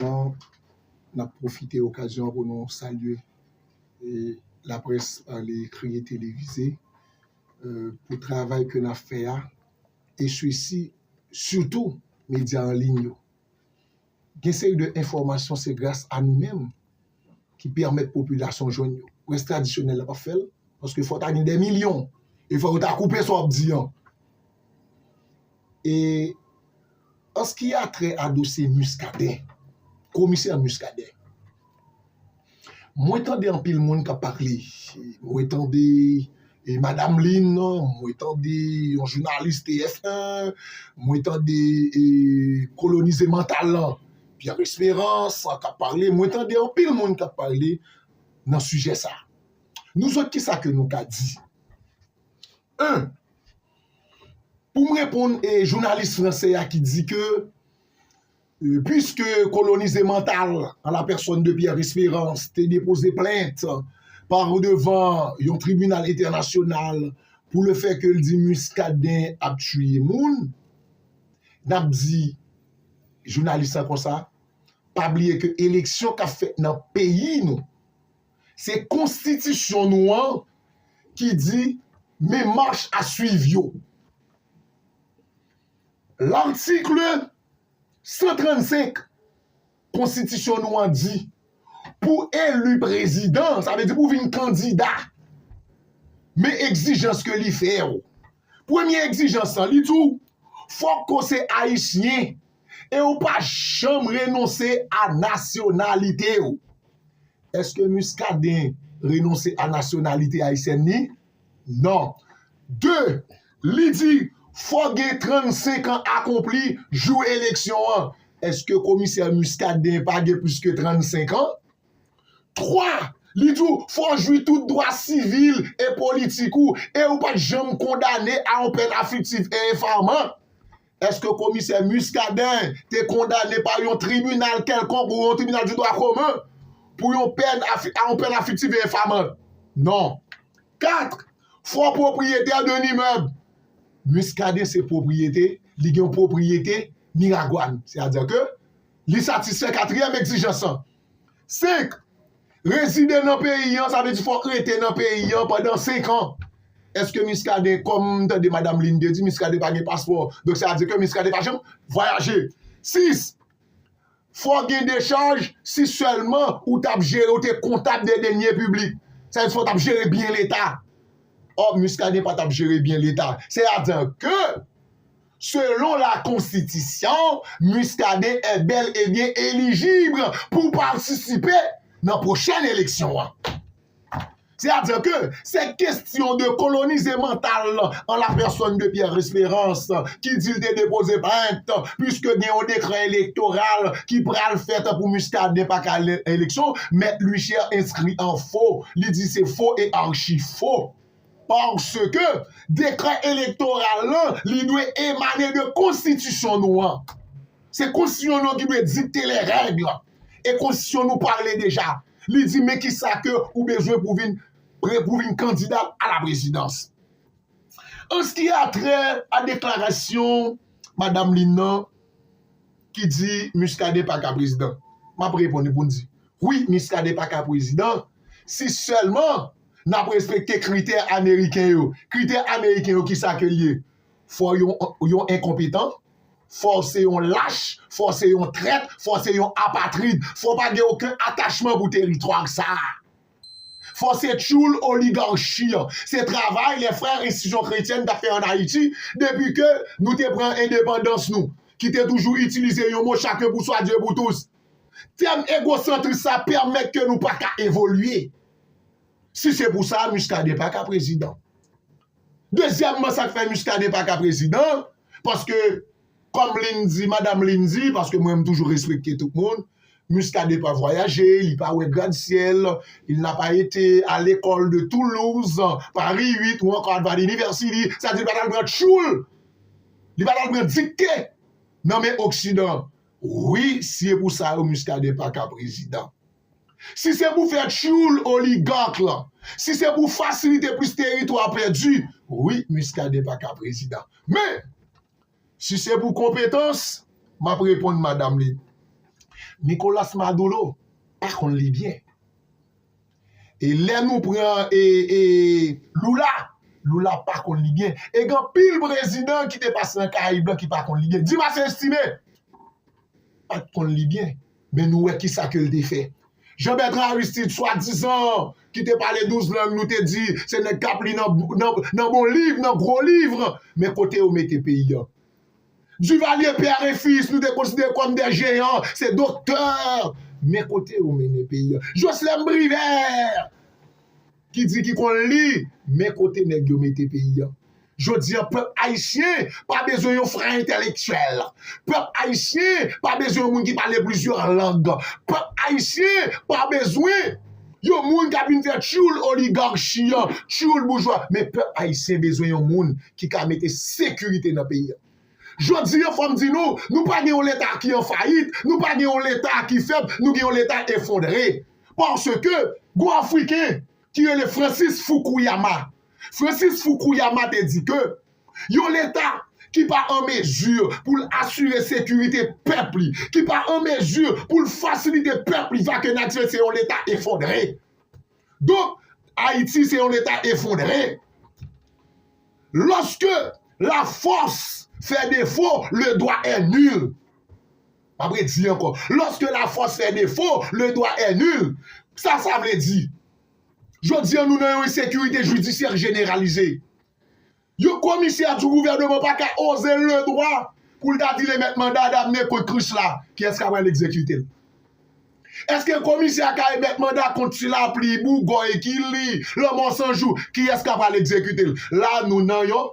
N ap pwofite okazyon an pou nou salye laprès pale ekri e televize pou travay ke n ap fè a e sisi sitou medya anliy yo. Gen seri de enfòmasyon se gras a nou menm ki pèmèt popilasyon jwenn yo. Près tradisyonèl la pa fè l, paske fò ta gen dè milyon, e fò yo ta koupe sa w ap di an. E, an s ki a trè a dosye Miskaden, komisè Miskaden, mwen tande anpil moun k ap pale, mwen tande e madam Lin, mwen tande yon jounalis TF1, mwen tande e kolonize mantal lan. Pierre Esperance kap pale, mwen tande anpil moun kap pale nan sijè sa. Nou zòt ki sa ke nou ka di? 1, Pou m reponn e jounalis franse a ki di ke pwiske kolonize mantal an la pèsòn de Pierre Esperance te depoze plent pa ou devan yon tribinal entènasyonal pou le fè ke l di Muscadin ap tiye moun, n ap di jounalis la konsa, pa bliye ke eleksyon kap fèt nan peyi nou, se konstitisyon nou an ki di men mach a swiv yo. L'article 135. Konstitisyon nou an di, pou eli prezidan, sa vle di pou w vin kandida, men egzijans ke li fè w. Premye egzijans lan, li di w, fòk ke w se Ayisyen e w pa janm renonse a nasyonalite w. Eske Muscadin renonse a nasyonalite Ayisyèn li? Non. 2, Li di, fòk gen 35 an akonpli jou eleksyon an. Eske komisè Muscadin pa gen plis ke 35 an? 3, Li di w, fò w jwi tout dwa sivil e politik ou e ou pa t janm kondane a yon pèn afliktif e enfaman. Èske komisè Muscadin te kondane pa yon tribinal kèlkonk ou yon tribinal di dwa komen pou yon pèn a yon pèn afiktif e enfamant? Non. 4, Fo pwopriyetè d'un immeuble Muscadin se pwopriyete, li gen yon pwopriyete Miragwàn. Sètadi ke li satisfè katriyèm egzijans lan. 5. Rezide nan peyi an, sa vle di fò w rete nan peyi an pandan 5 an. Eske Muscadin, kòm m tande Madam Lynn te di, Muscadin pa gen paspò. Donk sa vle di ke Muscadin pa janm vwayaje. 6. Fò w gen dechaj si sèlman ou t ap jere, ou te kontab de deniers publics. Sa vle di fò w t ap jere byen leta. Ò, Muscadin pa t ap jere byen leta. Sèyadan ke. Selon la konstitisyon, Muscadin è bèl e byen elijib pou patisipe nan pwochèn eleksyon an. Se a dire ke se kestyon de kolonize mantal lan an la pèsòn de Pierre Esperance ki di l te depoze plent puiske gen yon dekrè elektoral ki pral fèt pou Muscadin pa ka al nan eleksyon, Mèt Luichière enskri an fo, li di se fo e archi fo. Paske, dekrè elektoral lan, li dwe emane de konstitisyon nou an. Se konstitisyon nou an ki dwe dikte lè règ. E konstitisyon nou pale deja. Li di men ki sa ke ou bezwen pou vin pre pou vin kandida a la prezidans. An se ki a trè a deklarasyon madam Lynn nan ki di Muscadin pa ka prezidan. M ap reponn li pou l di wi Muscadin pa ka prezidan si sèlman nap respekte kritè ameriken yo kritè ameriken yo kisa ke liye fò yon enkonpetan fò se yon lach fò se yon trèt fò se yon apatrid fò pa gen oken atachman pou teritwa sa fò se tchoul oligarchi an se travay lè frè enstitisyon kretyèn ta fè an ayiti depi ke nou te pran endepandans nou ki te toujou itilize yon mo chak yon pou swa dye pou tous tèm egosantris sa pèmèt ke nou pa ka evolye Si se pou sa, Muscadin pa ka prezidan. Dezyèmman, sa k fè Muscadin pa ka prezidan, paske, kòm Lynn di, madam Lynn di, paske mwen m toujou respekte tout moun, Muscadin pa vwayaje, li pa wè gradsyèl, il n'a pas été à l'école de Toulouse, Paris 8 ou ankò Harvard University, sa vle di li pa t al pran tchoul, li pa t al pran dikte nan men oksidan. Wi, si e pou sa yo Muscadin pa ka prezidan. Si se pou fè tchyoul oligark lan, si se pou fasilite plis teritwa pèdi, wi Muscadin pa ka prezidan. Men, si se pou konpetans, m ap reponn madam li, Nicolas Maduro pa konn li byen. E lè nou pran Lula, Lula pa konn li byen. E gen anpil prezidan ki te pase nan Karayib lan ki pa konn li byen. Dimas Estime pa t konn li byen. Men nou wè ki sa ke l te fè. Jean Bertrand Aristide swadizan an ki te pale 12 lang nou te di se nèg k ap li nan bon liv, nan gwo livre, men kote yo mete peyi an. Duvalier, père et fils nou te konsidere kòm de jeyan, se doktè, men kote yo mennen peyi an. Jocelerme Privert! ki di ki konn li men kote nèg yo mete peyi an jodi an pèp ayisyen pa bezwen yon frè entèlektyèl pèp ayisyen pa bezwen yon moun ki pale plizyè lang pèp ayisyen pa bezwen yon moun k ap vin fè tyoul oligarchi an tyoul boujwa men pèp ayisyen bezwen yon moun ki ka mete sekirite nan peyi an jodi an fò m di nou nou pa gen yon leta ki an fayit nou pa gen yon leta ki fèb nou gen yon leta efondre. paske gon Afriken ki rele Francis Fukuyama. Francis Fukuyama te di ke yon leta ki pa an mezi pou l asire sekirite pèp li, ki pa an mezi pou l fasilite pèp li vake natirèl se yon leta efondre. Donk, Ayiti se yon leta efondre. Loske la fòs fè defo, le dwa è nil. M ap redi ankò, Loske la fòs fè defo, le dwa è nil. Sa sa vle di? Jodi an nou nan yon ensekirite jidisyè jeneralize. Yon komisè di gouvèneman pa ka oze le dwa pou l ta di le mèt manda a ta mennen kont Krisla, kiyès k ap al egzekite l? Eske komisè a ka emèt manda kont ti Lapli, Bougòy, Kili, Lanmò Sanjou, kiyès k ap al egzekite l? La nou nan yon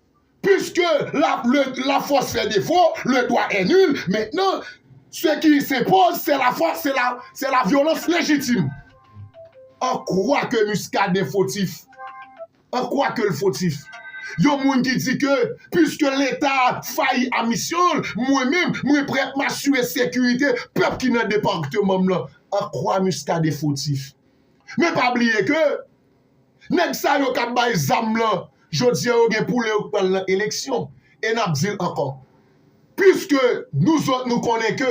Puiske la le la force fait défaut, le droit est nul, maintenant ce qui s'impose c'est la force, c'est la c'est la violence légitime. An kwa ke Muscadin fotif? An kwa ke l fotif? Yon moun ki di ke puiske leta a fayi a misyon l, mwen menm, mwen prè pou m asire sekirite pèp ki nan departeman m lan. An kwa Muscadin fotif? Men pa bliye ke Nèg sa yo kap bay zam lan jodi an yo gen poule yo k pral nan eleksyon e nap dil ankò piske nou zòt nou konnen ke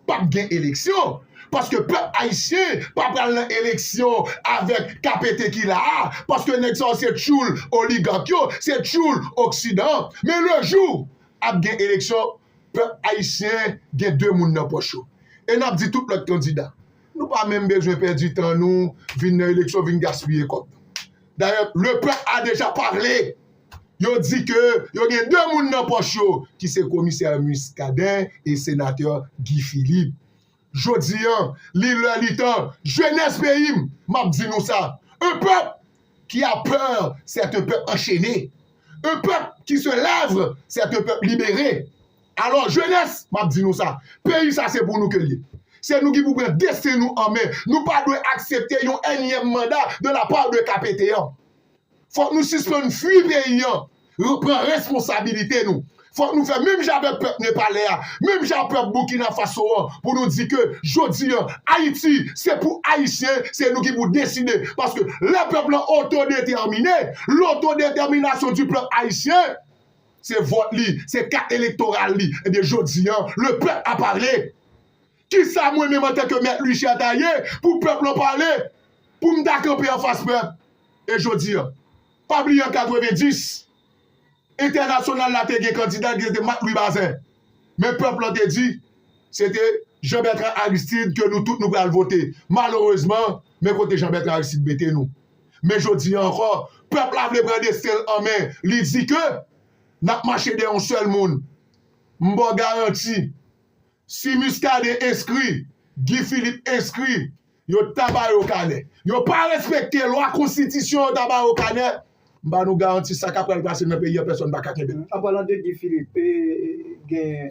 pap gen eleksyon paske pèp ayisyen pa pral nan eleksyon avèk kapete ki la a paske nèg sa yo se tchoul oligak yo se tchoul oksidan an men le jou ap gen eleksyon pèp ayisyen gen de moun nan pòch yo e nap di tout lòt kandida Nou pa menm bezwen pèdi tan nou vin nan eleksyon vin gaspiye kòb. Dayè le pèp a deja pale, yo di ke yo gen 2 moun nan pòch yo ki se komisè Muscadin e senatè Guy Philippe. Jodi an, li lè li tan, jenès peyi m, m ap di nou sa, un pèp ki a pè c'est un pèp anchene, un pèp ki se lève c'est un pèp libere. Alò jenès, m ap di nou sa, peyi sa se pou nou ke l ye. Se nou ki pou pran desten nou an men. Nou pa dwe aksepte yon ènyèm manda de la part de KPT an. Fòk nou sispann fui peyi an, pran responsabilite nou. Fòk nou fè menm jan avèk pèp nepalè a, menm jan ak pèp Burkina Faso an pou nou di ke jodi an Ayiti se pou Ayisyen, se nou ki pou deside. Paske lè pèp lan otodetèmine, l'autodétermination du peuple haïtien, Se vòt li, se kat elektoral li. Ebyen jodi an, le pèp a pale. Kisa mwen menm antanke Mèt Lucia ta ye pou pèp lan pale? Pou m ta kanpe anfas pèp? E jodi an? Pa bliye an 90, entènasyonal la te gen kandida ki se te Mak Lwi Bazin. Men pèp lan te di, se te Jean Bertrand Aristide ke nou tout nou pral vote. Malerezman, men kote Jean Bertrand Aristide mete nou. Men jodi an ankò, pèp la vle pran desten l an men, li di ke n ap mache dèyè yon sèl moun. M ba w garanti, si Muscadin enskri, Guy Philippe enskri, yo ta ba yo kanè. Yo pa respekte lwa konstitisyon yo ta ba yo kanè, m ba nou garanti sa k ap pral pase nan peyi an pèsòn pa ka kenbe l. An palan de Guy Philippe, gen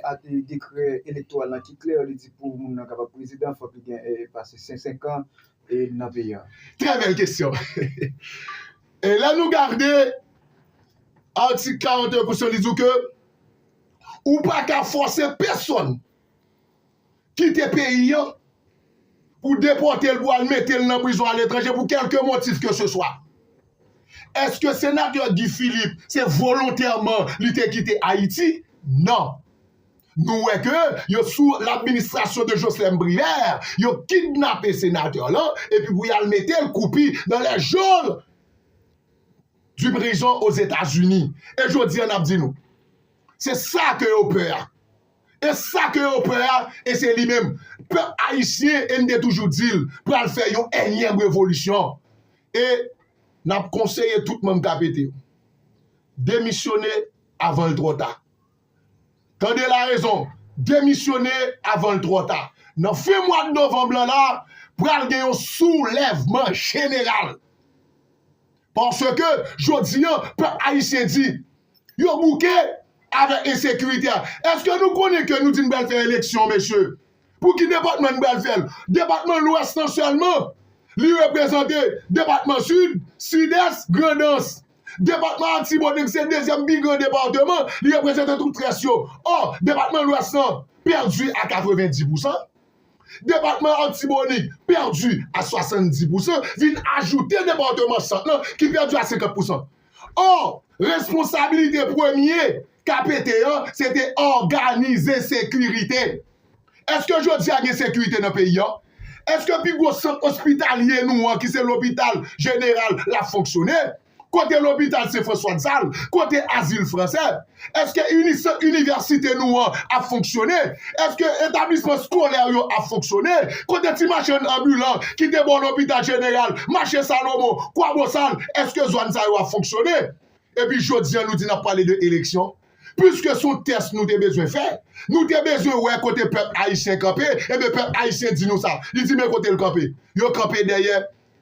dekrè elektoral lan ki klè, li di pou moun nan kapab prezidan fòk li gen pase 105 an, nan peyi an? Trè bèl kesyon. E lè nou gade atik 41 konstisyon li di w ke ou pa ka fòse pèsòn kite peyi an pou depòte l pou al mete l nan prizon aletranje pou kèlke motif ke se swa. Eske senatè Guy Philippe se volontèman li te kite Ayiti? Non. Nou wè ke yo sou l'administration de Jocelerme Privert, yo kidnape senateur lan epi pou y'al mete'l koupi dans les geôles du prison aux Etats-Unis. E jodi an n'ap di nou, se sa ke yo pè a. E sa ke yo pè a, e se li menm. Pèp Ayisyen, e m'te toujou di'l, pral fè yon ènyèm revolisyon. E n'ap konseye tout moun k'ap ede yo, demisyone avan'l trò ta. Tande larezon, demisyone avan l twò ta. Nan fen mwad novanm lan la, pral gen yon soulèvman jeneral. Paske, jodi an, pèp ayisyen di, yo bouke avèk ensekirite a. Eske nou konnen ke nou di n pral fè eleksyon, mesye? Pou ki depatman n pral fè l? Depatman lwès lan sèlman? Li reprezante depatman sid, sidès, grandans. Depatman Atibonit se dezyèm pi gran depatman, li reprezante tout rès yo. Ò, depatman Lwès lan pèdi a 90 pousan, depatman Atibonit pèdi a 70 pousan, vin ajoute depatman Sant lan ki pèdi a 50 pousan. Ò, responsabilite premye KPT an se te òganize sekirite. Èske jodi a gen sekirite nan peyi a? Èske pi gwo sant ospitalye nou an ki se lopital jeneral la ap fonksyone? Kote lopital Sen Franswa Dzal? Kote Azil Fransè? Èske ini sant inivèsite nou an ap fonksyone? Èske etablisman skolè yo ap fonksyone? Kote ti machann anbilan ki te bò lopital jeneral, mache Salomon, Kwabosal, èske zòn sa yo ap fonksyone? Epi jodi a nou di n ap pale de eleksyon? Piske se yon tès nou te bezwen fè, nou te bezwen wè kote pèp ayisyen kanpe, enben pèp ayisyen di nou sa. Li di men kote l kanpe. Yo kanpe dèyè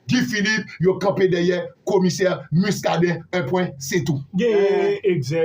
Guy Philippe, yo kanpe dèyè komisè Muscadin, 1 pwen, se tou. Gen egzè.